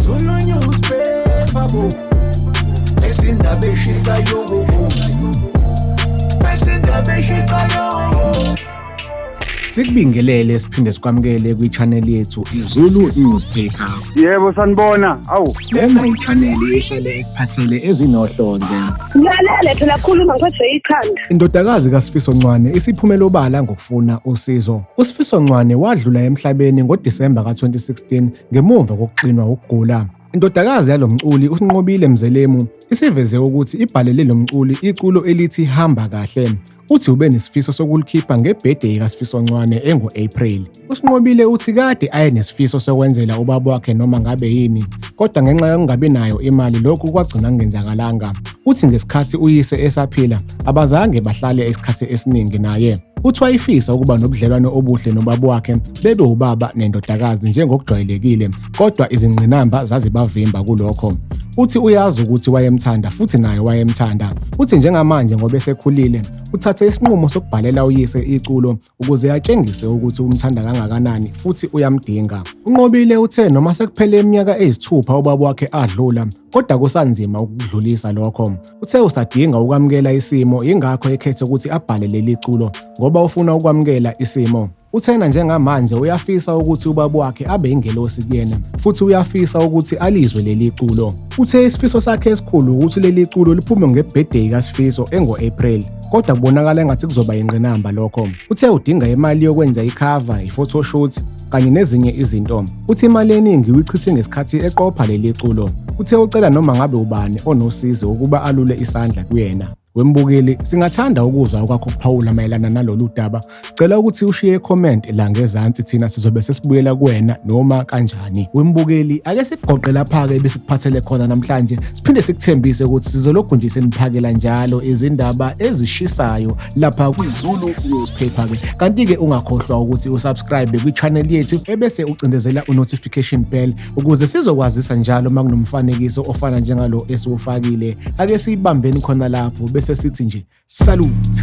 Zulu newspaper bo Ezindaba eshisayo bo Ezindaba eshisayo Sikubingelele siphinde sikwamukele kwi-channel yethu iZulu Newspaper. Yebo sanibona. Awu, Lena yichaneli ehlale ekuphathele ezinohlonze. Ngilalele phela khuluma ngiphathwe ikhanda. Indodakazi kaSifiso Ncwane isiphumele obala ngokufuna usizo. USifiso Ncwane wadlula emhlabeni ngoDisemba ka-2016 ngemumva kokuxinwa ukugula. Indodakazi yalo mculi uSinqobile Mzelemu isiveze ukuthi ibhalele lo mculi iculo elithi Hamba Kahle. uthi ube nesifiso sokulikhipha ngebhede kaSifiso Ncwane engu-April. USinqobile uthi kade aye nesifiso sokwenzela ubaba wakhe noma ngabe yini, kodwa ngenxa yokungabi nayo imali lokhu kwagcina kungenzakalanga. Uthi ngesikhathi uyise esaphila abazange bahlale isikhathi esiningi naye. Uthi wayefisa ukuba nobudlelwano obuhle nobaba wakhe bebe ubaba nendodakazi njengokujwayelekile kodwa izingqinamba zazibavimba kulokho. Uthi uyazi ukuthi wayemthanda futhi naye wayemthanda. Uthi njengamanje ngoba esekhulile, uthathe isinqumo sokubhalela uyise iculo ukuze atshengise ukuthi umthanda kangakanani futhi uyamdinga. UNqobile uthe noma sekuphele iminyaka eyisithupha ubaba wakhe adlula, kodwa kusanzima ukudlulisa lokho. Uthe usadinga ukwamukela isimo, yingakho ekhethe ukuthi abhale leli culo ngoba ufuna ukwamukela isimo. Uthena njengamanje uyafisa ukuthi ubaba wakhe abe ingelosi kuyena futhi uyafisa ukuthi alizwe leli culo. Uthe isifiso sakhe esikhulu ukuthi leli culo liphume ngebirthday kaSifiso engo-April kodwa kubonakala engathi kuzoba yingqinamba lokho. Uthe udinga imali yokwenza ikhava, i-photoshoot kanye nezinye izinto. Uthi imali eningi uyichithe ngesikhathi eqopha leli culo. Uthe ucela noma ngabe ubani onosizi ukuba alule isandla kuyena. Wembukeli, singathanda ukuzwa okwakho kuphawula mayelana nalolu daba. Cela ukuthi ushiye icomment la ngezansi thina sizobe sesibuyela kuwena noma kanjani. Wembukeli, ake sikugoqe lapha-ke besikuphathele khona namhlanje. Siphinde sikuthembise ukuthi sizolokhu nje seniphakela njalo izindaba ezishisayo lapha kwiZulu Newspaper-ke. Kanti-ke ungakhohlwa ukuthi usubscribe kwi-channel yethu ebese ucindezela u-notification bell Ukuze sizokwazisa njalo uma kunomfanekiso ofana njengalo esiwufakile, ake siyibambeni khona lapho bese sithi nje salute.